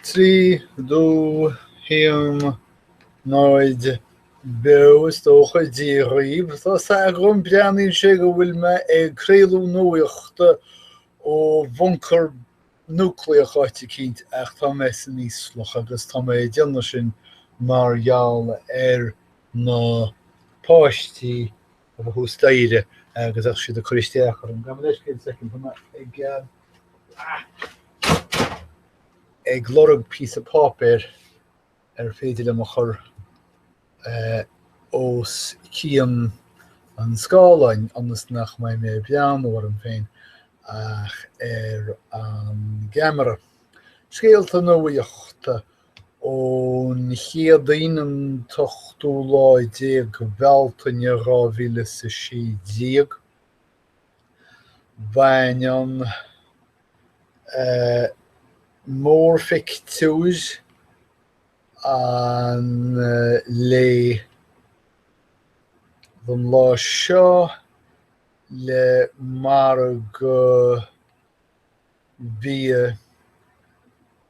Trí, dó, haon, náid, beo, is dócha, Dia dhaoibh, tá a fhios agam, breathnaíonn sé go bhfuil mé ag craoladh nuachta ó bhuncar núicléach áit eicínt ach tá mé san íoslach agus tá mé ag déanamh sin mar gheall ar na páistí atá thuas staighre agus bheadh siad ag cur isteach orm. Gabh mo leithscéal soicind, tá mé ag ag lorg píosa páipéir ar féidir liom a chur os cionn an scáileáin ionas nach mbeidh mé ag breathnú orm féin ach ar an gceamara. Scéalta nuachta ón Chéadaoin an t-ochtú lá déag Bealtaine dhá mhíle is a sé déag. Baineann mórphictiúr an lae den lá seo le margadh bia,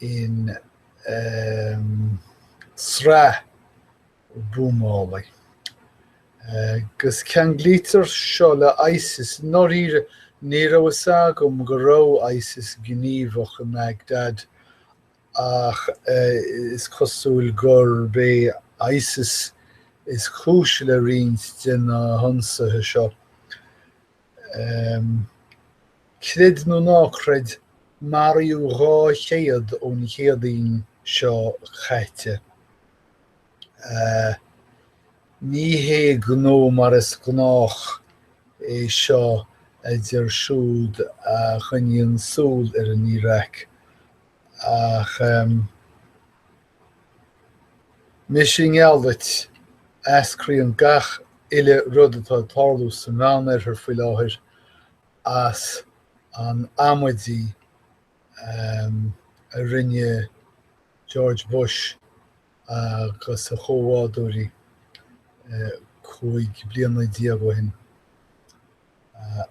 in sraith buamálaí, agus ceanglaítear seo le ISIS, i ndáiríre ní raibh fhios agam go raibh ISIS gníomhach i mBagdad ach is cosúil gurb é ISIS is cúis le roinnt de na hionsaithe seo. Creid nó ná creid, maraíodh 200 ón Chéadaoin seo caite. Ní hé gnó mar is gnách é seo a deir siúd a choinníonn súil ar an Iaráic, ach. Mise i ngeall duit, eascraíonn gach uile rud atá ag tarlú sa Mheánoirthear faoi láthair as an amaidí a rinne George Bush agus a chomhbhádóirí cúig bliana déag ó shin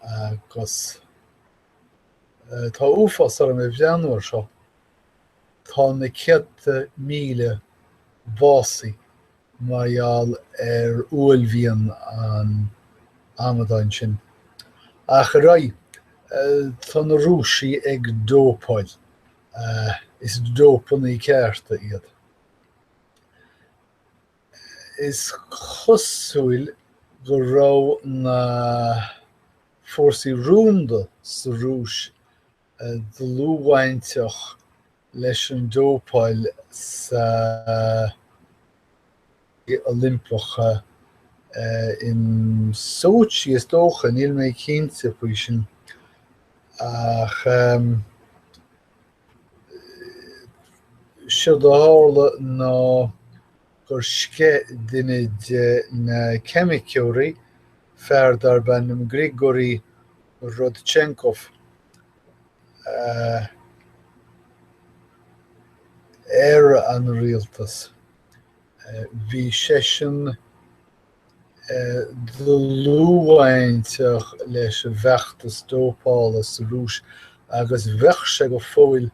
agus tá uafás orm ag breathnú air seo. Tá na céadta míle básaithe mar gheall ar uaillmhian an amadáin sin. Ach ar aghaidh. Tá na Rúisigh ag dópáil. Is dópannaí cearta iad. Is cosúil go raibh na fórsaí rúnda sa Rúis dlúthbhainteach leis an dópáil sna hOilimpeacha in Sochi, is dócha, níl mé cinnte faoi sin, ach seo a tharla ná. gur sceith duine de na ceimiceoirí, fear darb ainm Grigory Rodchenkov, ar an rialtas. Bhí seisean dlúthbhainteach leis an bhfeachtas dópála sa Rúis agus bheadh sé go fóill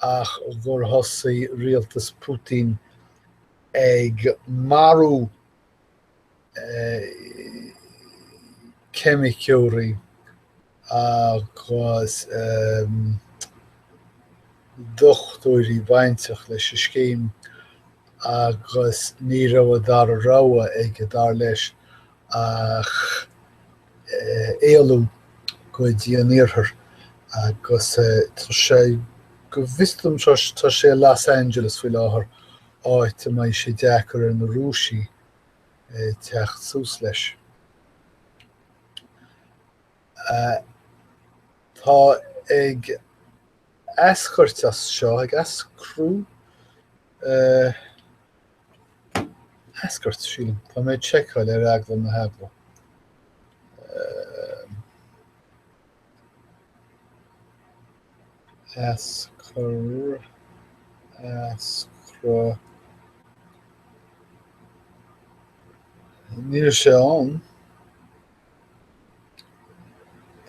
ach gur thosaigh rialtas Putin ag marú ceimiceoirí agus dochtúirí bainteach leis an scéim agus ní raibh an dara rogha aige, dar leis, ach. éalú go dtí an tIarthar agus tá sé, go bhfios dom, tá sé i Los Angeles faoi láthair, áit a mbeidh sé deacair ar na Rúisigh teacht suas leis. Tá ag eascairt as seo, ag eascrú? eascairt, sílim. Tá mé ag seiceáil ar eagla na heagla. eascra, eascra. Níl sé ann.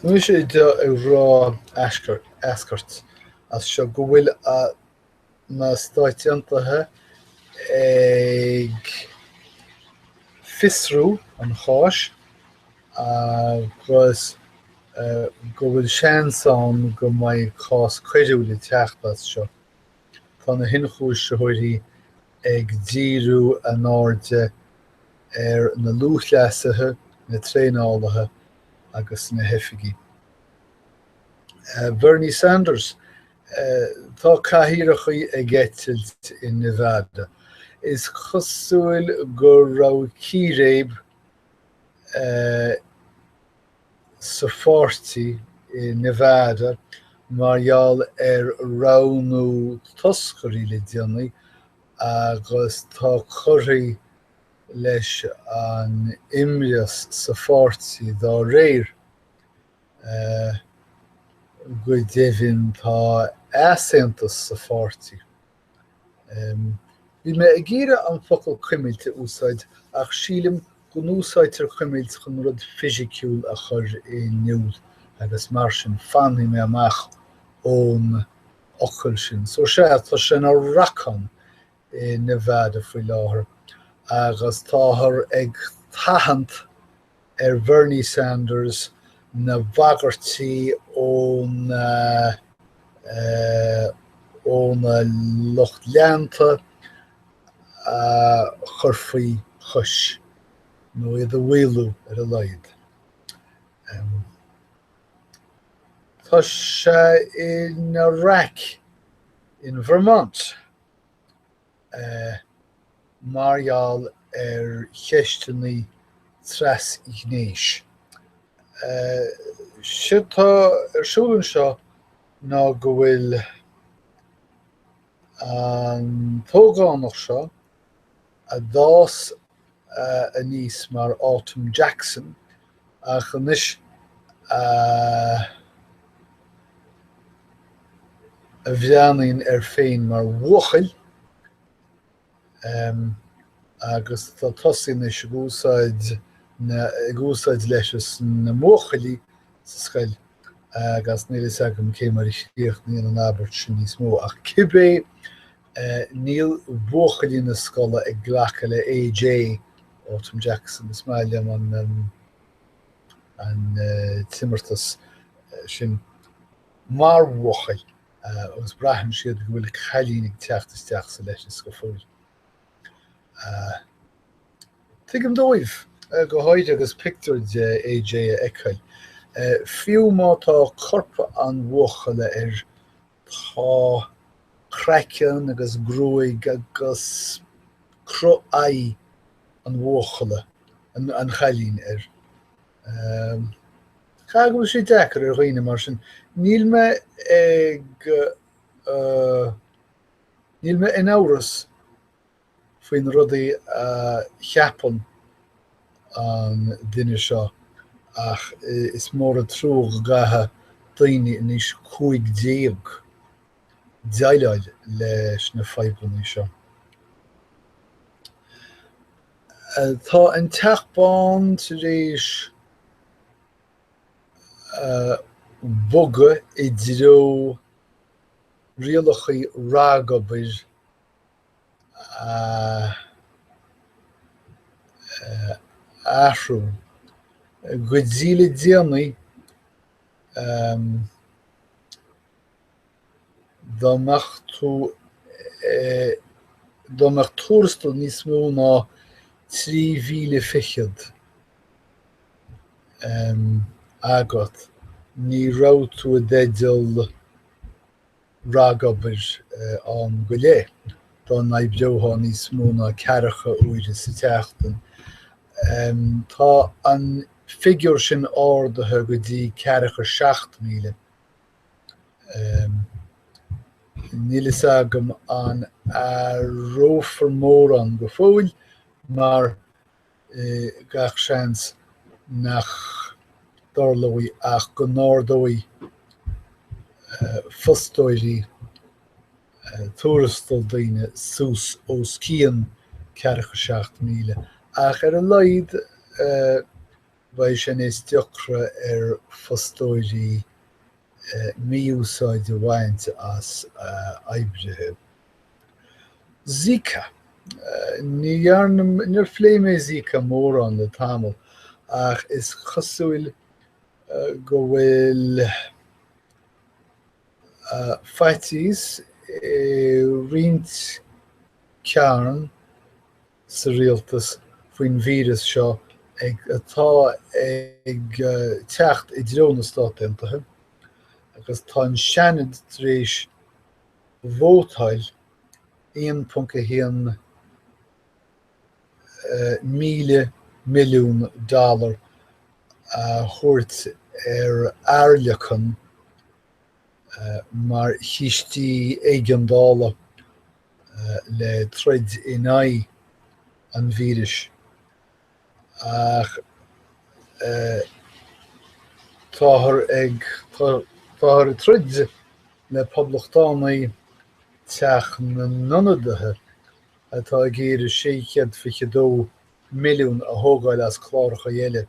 Tá mé ag rá eascairt as seo go bhfuil na Stáit Aontaithe ag fiosrú an cháis agus go bhfuil seans ann go mbeidh cás coiriúil ag teacht as seo. Tá na hionchúisitheoirí ag díriú a n-airde ar na lúthchleasaithe, na traenálaithe agus na hoifigigh. Bernie Sanders Tá cathaoireacha ag eitilt i Nevada. Is cosúil go raibh círéib sa pháirtí i Nevada mar gheall ar roghnú toscairí le déanaí agus tá curtha leis an imreas sa pháirtí dá réir. Go deimhin tá easaontas sa pháirtí. Bhí mé ag iarraidh an focal cuimilt a úsáid ach sílim go n-úsáidtear cuimilt chun rud fisiciúil a chur in iúl agus mar sin fanfaidh mé amach ón fhocal sin. So sea, tá sé ina racán. i Nevada faoi láthair agus táthar ag tathant ar Bhernie Sanders na bagairtí óna óna lucht leanta a chur faoi chois, nó iad a mhaolú ar a laghad. Tá sé ina raic in Vermont. mar gheall ar cheisteanna trasghnéis. Séard tá ar siúl anseo ná go bhfuil an t-ógánach seo, a d'fhás aníos mar Autumn Jackson ach anois a bhreathnaíonn air féin mar bhuachaill agus tá tosaithe anois ag úsáid na ag úsáid leithreas na mbuachaillí sa scoil agus níl a fhios agam cé mar a chríochnaíonn an abairt sin níos mó ach cibé e Níl buachaillí na scoile ag glacadh le AJ, Autumn Jackson, is maith liom an an t-imeartas sin mar bhuachaill agus braitheann siad go bhfuil cailín ag teacht isteach sa leithreas go fóill. Tuigim dóibh go háirithe agus pictiúr de AJ á fheiceáil. Fiú má tá corp an bhuachalla ar Tá craiceann agus gruaig agus cruth aghaidh an bhuachalla, an chailín, air. Caithfidh go bhfuil sé deacair ar dhaoine mar sin. Níl mé ag. Níl mé in amhras faoin rud a cheapann an duine seo ach is mór an trua go gcaithfidh daoine in aois a cúig déag déileáil leis na fadhbanna seo. Tá an Teach Bán tar éis bogadh i dtreo rialacha ragobair. a athrú. Go dtí le déanaí, dá mbeadh tú dá mbeadh tuarastal níos mó ná trí mhíle fichead agat, ní raibh tú i dteideal ragobair am go leith, dá n-oibreofá níos mó ná ceathracha uaire sa tseachtain. Tá an figiúr sin ardaithe go dtí ceathracha seacht míle. Níl fhios agam an athrófar mórán go fóill mar gach seans nach dtarlóidh ach go n-ardóidh fostóirí tuarastal daoine suas os cionn ceathracha seacht míle, ach ar a laghad beidh sé níos deacra ar fostóirí mí-úsáid a bhaint as oibrithe. Zika. Níor phléigh mé Zika mórán le tamall ach is cosúil go bhfuil faitíos i roinnt cearn sa rialtas faoin víreas seo atá ag teacht i dtreo na Stát Aontaithe agus tá an Seanad tar éis Vótáil 1.1 míle milliún dollar a thabhairt ar airleacan mar chiste éigeandála le troid in aghaidh an víris. ach táthar ag táthar ag troid le poblachtánaigh Teach na nIonadaithe atá ag iarraidh sé chéad fiche dó milliún a thógáil as cláracha eile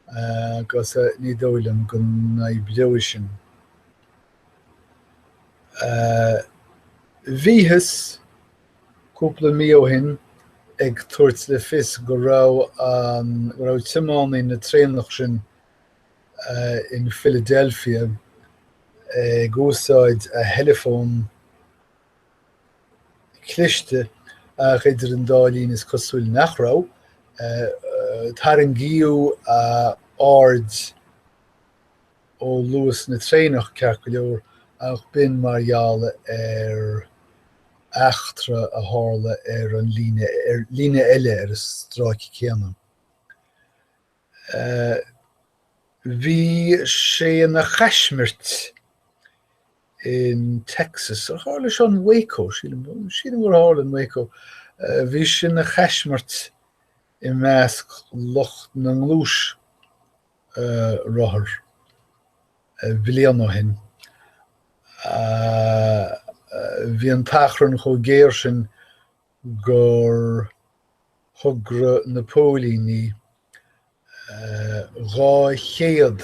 agus ní dóigh liom go n-oibreoidh sin. Bhíothas. cúpla mí ó shin ag tabhairt le fios go raibh an, go raibh tiománaí na traenach sin in Philadelphia ag úsáid a theileafón cliste ach idir an dá linn is cosúil nach raibh, tarraingíodh a aird, ó luas na traenach, ceart go leor, ach b'in mar gheall ar eachtra a tharla ar an líne, líne eile ar an stráice céanna. Bhí sé ina chaismirt in Texas, a tharla seo in Waco, sílim gur tharla in Waco, bhí sé ina chaismirt i measc lucht na ngluais. rothar bliain ó shin. Bhí an t-achrann chomh géar sin gur thogair na póilíní dhá chéad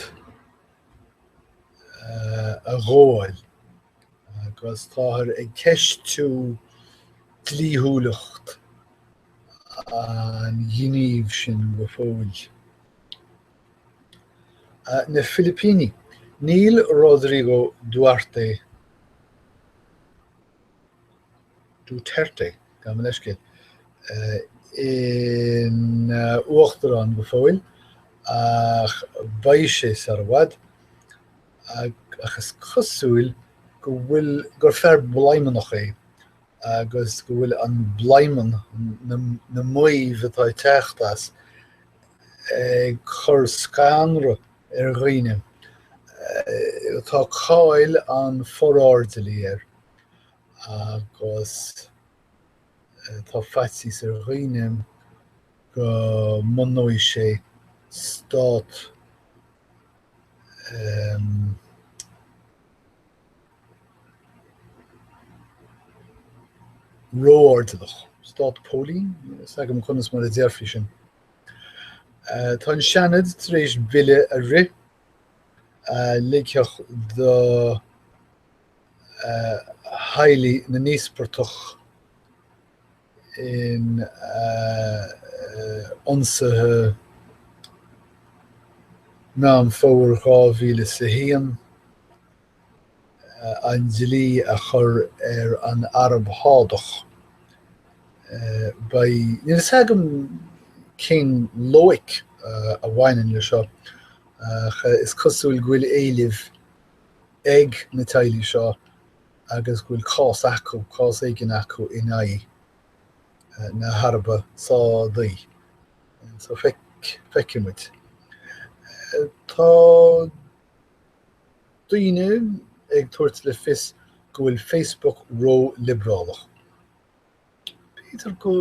a ghabháil. agus táthar ag ceistiú dlíthiúlacht an ghnímh sin go fóill. Na Filipíní, níl Rodrigo Duarte, Duterte, gabh mo leithscéal, ina uachtarán go fóill ach beidh sé sar i bhfad. ach is cosúil go bhfuil, gur fear bladhmannach é agus go bhfuil an bladhmann, na maímh atá ag teacht as, ag cur scanradh ar dhaoine. Tá cáil an forairdeallaí air agus tá faitíos ar dhaoine go mbunóidh sé stát ró-airdeallach. Stát póilíní? Níl a fhios agam conas mar a déarfaí sin. Tá an Seanad tar éis bille a rith a ligfeadh do theaghlaigh na n-íospartach. in ionsaithe Meán Fómhair 2001, an dlí a chur ar an Araib Shádach. Beidh, níl a fhios agam cén loighic a bhaineann leis seo ach is cosúil go bhfuil éilimh ag na teaghlaigh seo agus go bhfuil cás acu, cás éigin acu in aghaidh na hAraibe Sádaí. So feicfidh muid. Tá daoine ag tabhairt le fios go bhfuil Facebook ró-liobrálach. B'fhéidir go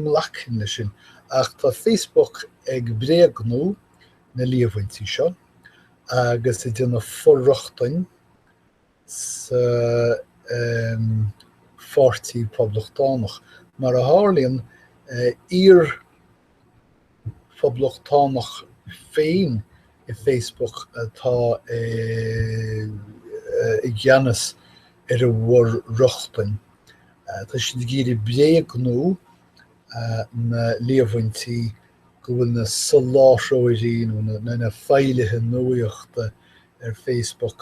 nglacfainn leis sin, ach tá Facebook ag bréagnú na líomhaintí seo agus ag déanamh for-rochtana sa Pháirtí Poblachtánach. Mar a tharlaíonn, iar Poblachtánach féin i Facebook atá i gceannas ar a bhfor-rochtain. Tá siad ag iarraidh bréagnú na líomhaintí go bhfuil na soláthróirí nó na feighlithe nuaíochta ar Facebook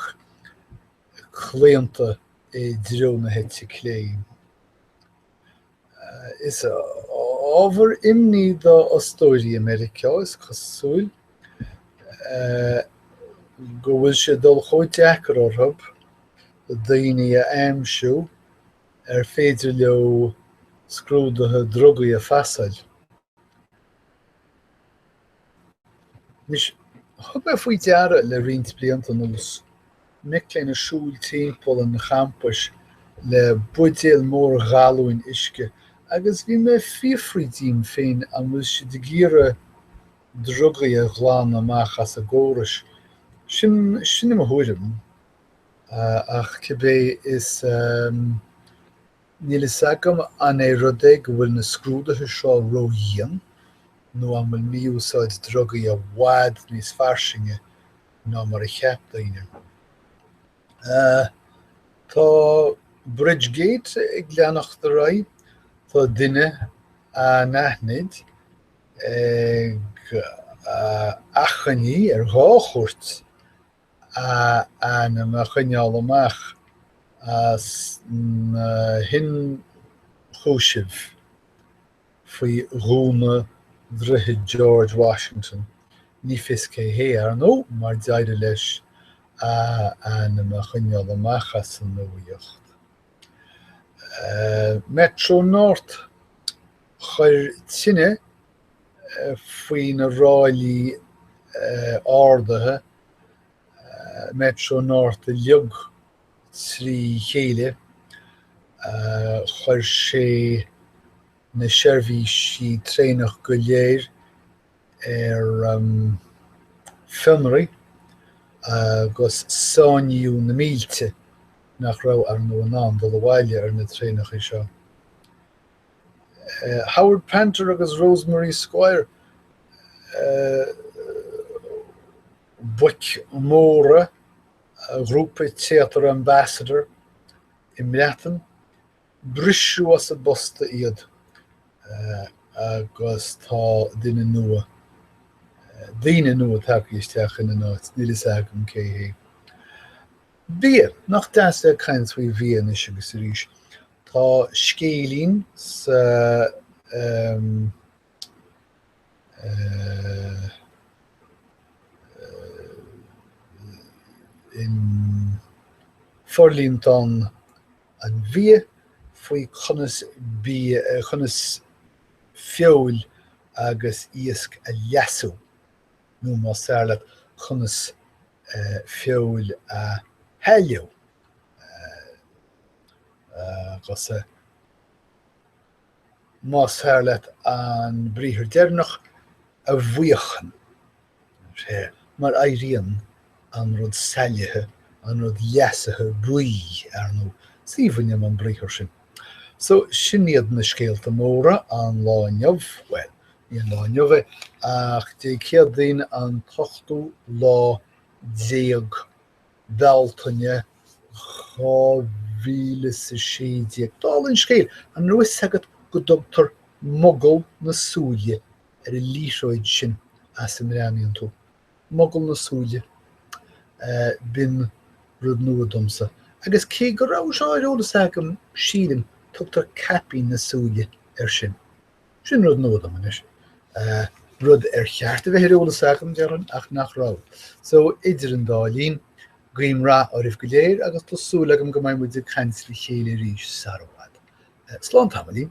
claonta i dtreo na heite clé. Is ábhar imní do fhostóirí i Meiriceá, is cosúil, go bhfuil sé ag dul chomh deacair orthub daoine a aimsiú ar féidir leo scrúduithe drugaí a phasáil. Anois, thug mé faoi deara le roinnt blianta anuas mic léinn ag siúl timpeall an champais le buidéil mhóra ghalúin uisce agus bhí mé ag fiafraí díom féin an bhfuil siad ag iarraidh drugaí a ghlanadh amach as a gcóras. Sin, sin é mo thuairim, ach cibé is Níl a fhios agam an é rud é go bhfuil na scrúduithe seo ró-dhian nó an bhfuil mí-úsáid drugaí i bhfad níos fairsinge ná mar a cheap daoine. Tá Bridgegate ag leanacht ar aghaidh. Tá duine anaithnid ag achainí ar dhá chúirt a ainm a choinneáil amach as na hionchúisimh faoi dhúnadh Droichead George Washington, ní fios cé hé, ar ndóigh, mar d'éirigh leis a ainm a choinneáil amach as an nuaíocht. Metro-North, Chuir tine faoi na ráillí ardaithe Metro North uilig trí chéile, chuir sé na seirbhísí traenach go léir ar fionraí agus sáinníodh na mílte nach raibh, ar ndóigh, in ann dul abhaile ar na traenacha seo. Howard Panter agus Rosemary Squire, boic mhóra ghrúpa téatair Ambassador i mBreatain, briseadh as a bposta iad agus tá duine nua, daoine nua tagtha isteach ina n-áit, níl a fhios agam cé hiad. Bia, nach deas é caint faoi bhia anois agus arís. Tá scéilín sa in Forlíontán an Bhia faoi conas bi conas feoil agus iasc a leasú, nó más fearr leat, conas feoil a shailleadh. agus más fearr leat an briathar deireanach, a bhuíochan. Mar éiríonn an rud saillithe, an rud leasaithe buí, ar ndóigh. 'S aoibhinn liom an briathar sin. So, sin iad na scéalta móra an lá inniu, bhuel, ní an lá inniu é, ach Dé Céadaoin an t-ochtú lá déag. Bhealtaine 2016. Dála an scéil, an raibh fhios agat go dtugtar Mogall na Súile ar an liathróid sin as a mbreathnaíonn tú? Mogall na Súile. B'in rud nua domsa. Agus cé go raibh seo ar eolas agam, sílim, tugtar Caipín na Súile air sin. Sin rud nua dom anois. Rud ar cheart a bheith ar eolas agam, déarfainn, ach nach raibh. So, idir an dá linn, guím rath oraibh go léir agus tá súil agam go mbeidh muid ag caint le chéile arís sara bhfad. Slán tamaillín.